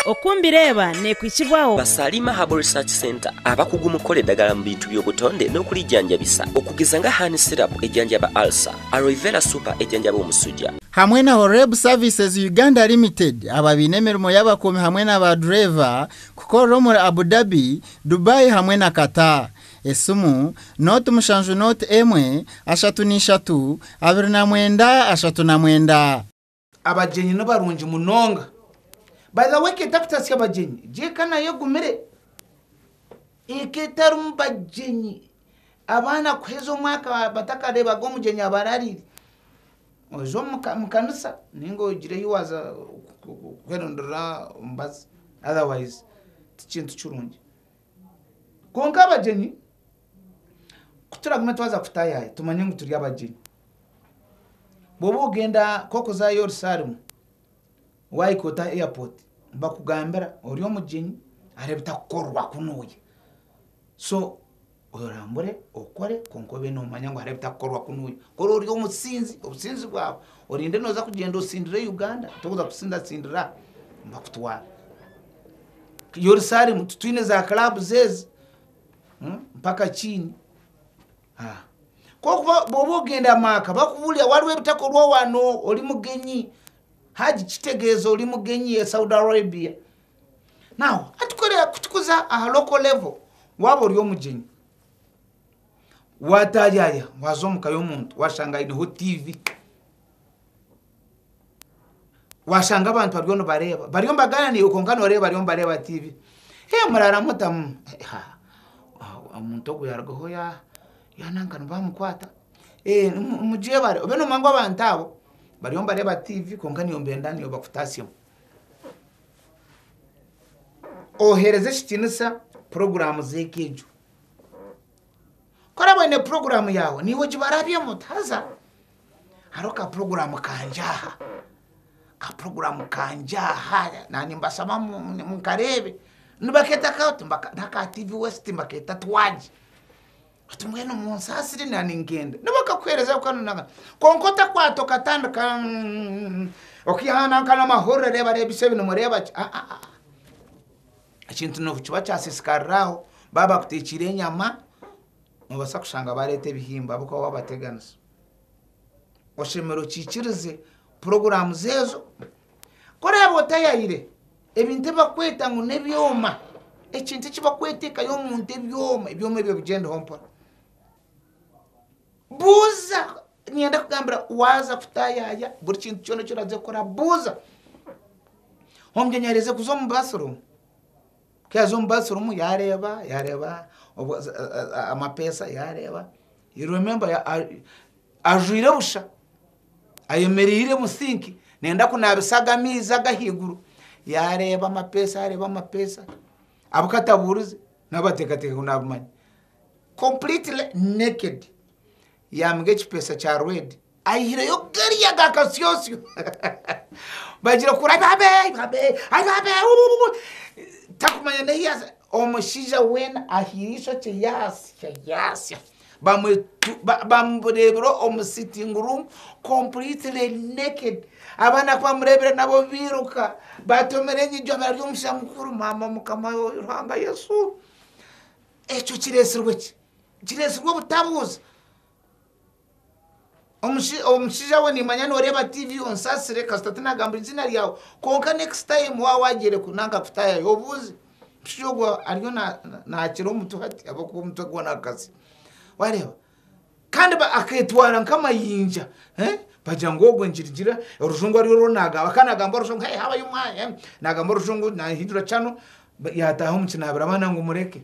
Oku mbireeba nekwitsibwaho. Ba Salima Herbal Research Centre abakugu mu kukora edagala mu bintu by'obutonde n'okurijanjabisa okugeza nga Honey Syrup ejanjaba Ulcer, Aloe Vera Super ejanjaba omusuja, hamwe na Horeb Services Uganda Limited ababaine emirimo y'abakuumi hamwe na ba dureeva kukorera omuri Abu Dhabi, Dubai hamwe na Qatar. Esimu, Note mushanju Note emwe, ashatu na ishatu, abiri na mwenda, ashatu na mwenda. Abagyenyi ni barungi munonga. By the way eka etakutatsya abagyenyi gye eka nayo egumire. Eka etarimu bagyenyi abaana kuheza omwaka batakareebaga omugyenyi aba arariire. Oza omu ka- mu kanisa ninga ogire ei waaza ku- ku- ku- kweronderera omubazi otherwise tikintu kirungi. Kwonka abagyenyi ku turagume twaza kutaayaaya tumanye ngu turi abagyenyi. Bwoba ogenda nk'okuza Yerusalemu, waahika Ota Airport, nibakugambira ori omugyenyi hariho ebitakukorerwa ku nooya. So orambure okore kwonka obe noomanya ngu hariho ebitakukorerwa ku nooya. Kuri ori omusinzi, obusinzi bwawe orinde nooza kugyenda otsindire Uganda, toza kutsindatsindira aha, nibakutwara. Yerusalemu titwine za clubs ezi mpaka kiini. Kwonka obu oba ogenda omu maka bakubuurira waliwo ebitakorwa wanu ori mugenyi, Hajj kitegeeza ori mugenyi e Saudi Arabia. Now hati ku turikuza aha local level, waaba ori omugyenyi waataayaaya waaza omu ka y'omuntu waashanga aineho tiivi. washanga abantu bariyo nibareeba bariyo nibagaana naiwe kwonka noreeba bariyo nibareeba tiivi hee muraara mutamu ha omuntu ogwo yaarugaho ya nanka nibo baamukwata ee mugyebare obe noomanya ngu abantu abo bariyo nibareeba tiivi kwonka naiwe nibenda ngu bakutaasemu ohereza ekitiinisa puroguraamu z'eka egyo ku oraba oine puroguraamu yaawe naiwe gibarabyemu haza hariho ka puroguramu kangye aha, ka puroguramu kangye aha, naanye mbashaba nkareebe, nibakeeta ka oti, n'aka tiivi westi nibakeeta twagi, oti mbwenu munsaasire naanye ningenda, nibakakuheereza kukanu na kare, kwonka otakwata okatandika okaihaananka n'amahurire reeba reeba eishe ebi nimureeba ki, ha ha ha, ekintu nikiba kyasiisikarira aho, baabakuteekiire enyama, Noobaasa kushanga baareeta ebihimba ahabw'okuba waabateganisa. Oshemereire okiikirize puroguraamu zeezo. Ku oraabe otayaire ebintu ebi bakweta ngu n'ebyoma, ekintu eki bakweteekayo omu nte ebyoma, ebyoma ebyo bigyendeho mpora. Buuza, niinyenda kugambira waaza kutaayaaya buri kintu kyona eki oraaze kukora buuza. Omunyonyi areeze kuza omu baasiruumu. Ku yaaza omu basirumu yaareeba, yaareeba amapeesa yaareeba, you remember ajwaire busha ayemereire omu sinki nayenda kunaabisa aga amaizi ag'ahaiguru, yaareeba amapeesa yaareeba amapeesa abu katabuurize nabo bateekateeka ngu naabimanya. Completely naked! Yaamuha ekipeesa kya reedi. Aihireyo gari aga kasyosyo bagira kuri ai babe ai babe ai babe uuh takumanya n'ehi yaaza. Omushaija weena ahiire eishokye yaasya yaasya bamwetu ba bamureebire omu sitting room completely naked. Abaana ku bamureebire nabo bairuka baatomera enyigi omu ari omushaija mukuru maama Mukama Ruhanga Yesu! Ekyo kireetsirwe ki? Kireetsirwe obutabuuza. Omushaija we nimanya noreeba TV onsasire kasita tinagamba eiziina ryawe kwonka next time waba wagyerekwe nanka kutayayo obuuze omushaija ogwo ariyo nakira omutwe hati ahabwokuba omutwe gwona akatsi wareeba kandi aketwara nkamayinja bagira ngu ogwe nigirira orujungu ari orwo nagamba kandi nagamba orujungu hey how are you my nagamba orujungu nahindura channel yataha omukinabiro abaana ngu mureke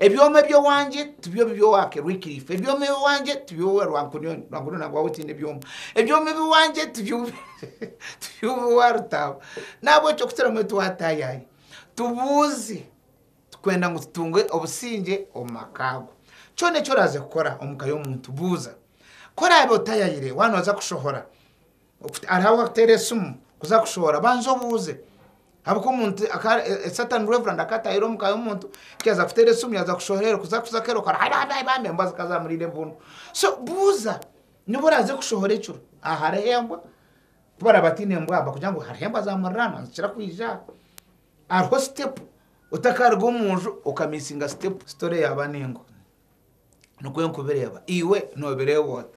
Ebyoma eby'owangye tibyo bibyo waake Wycliffe, ebyoma eby'owangye tibyo bibyo wa Rwankunioni, Rwankunioni nangwa waaba otiine ebyoma, ebyoma eby'owangye tibyo bibyo wa Rutaabo. Nahabwekyo kukira mbwenu tiwaataayaaya, tubuuze, tukwenda ngu tutunge obusingye omu maka go. Kyona eki oraaze kukora omu ka y'omuntu, buuza. Ku oraabe otaayaayire, waaba nooza kushohora, Hariho abarikuteera esimu kuza kushohora, banza obuuze ahabw'okuba Sitaane Reverandi akaba ataahire omuka y'omuntu ku yaaza kuteera esimu yaaza kushohorera kuza kuza kukora akora ha ha ha bambi embwa zikaba zaamuriire bunu. So buuza nobu oraaze kushohora ekiro aha hariho embwa ku baraabe bataine embwa nibakugira ngu hariho embwa zaamuriraanwa nizikira kwija aha. Hariho sitepu otakaaruga omu nju okamiisinga sitepu sitori yaaba n'engwa. Nikwo ndikubireeba. Iwe noobireeba ota?